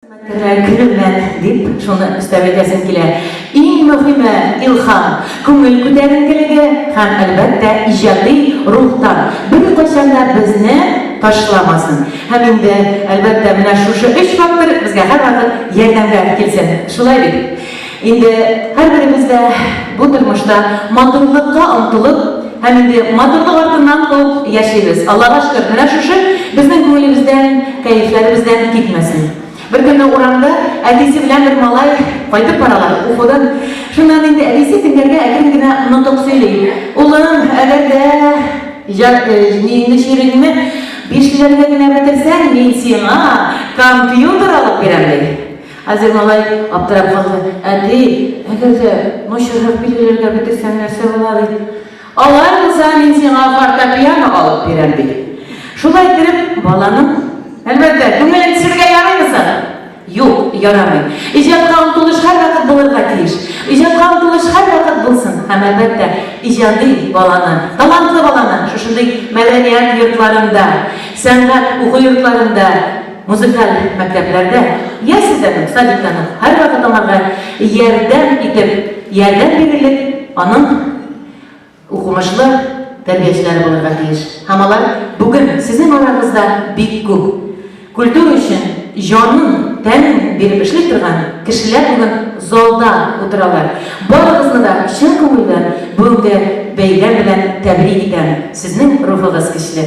Хезмәткәрләр керүләр, дип, шуны өстәп әйтәсем килә. Иң мөһиме, илһам, күңел күтәренкелеге һәм, әлбәттә, иҗади рухтан беркайчан да безне ташламасын. Һәм инде, әлбәттә, менә шушы өч фактор безгә һәрвакыт ярдәмгә килсен. Шулай бит? Инде һәрберебез дә бу тормышта матурлыкка омтылып һәм инде матурлык артыннан куып яшибез. Аллага шөкер, менә шушы безнең күңелебездән, кәефләребездән китмәсен. Беркөнне урамда әтисе белән бер малай кайтып баралар укудан. Шуннан инде әтисе тиңнәргә әкрен генә нотык сөйли. Улым, әгәр дә җат җиңне чиреңне бишлеләргә генә бетерсәң, мин сиңа компьютер алып бирәм, ди. Хәзер малай аптырап калды. Әти, әгәр дә начаррак билгеләргә бетерсәң, нәрсә була? ди. Алай булса, мин сиңа фортепиано алып бирәм, ди. Шулай иттереп, баланың, әлбәттә, күңелен төшерергә ярыймы соң? Юк, ярамый. Иҗатка омтылыш һәрвакыт булырга тиеш. Иҗатка омтылыш һәрвакыт булсын һәм, әлбәттә, иҗади баланы, талантлы баланы шушындый мәдәният йортларында, сәнгать уку йортларында, Музыкаль мәктәпләрдә ясльләрнең, садикларның һәрвакыт аңарга ярдәм итеп, ярдәм бирерлек аның укымышлы тәрбиячеләре булырга тиеш. Һәм алар бүген сезнең арагызда бик күп. Культура өчен җанын, тәнен биреп эшли торган кешеләр бүген залда утыралар. Барыгызны да чын күңелдән бүгенге бәйрәм белән тәбрик итәм. Сезнең рухыгыз көчле.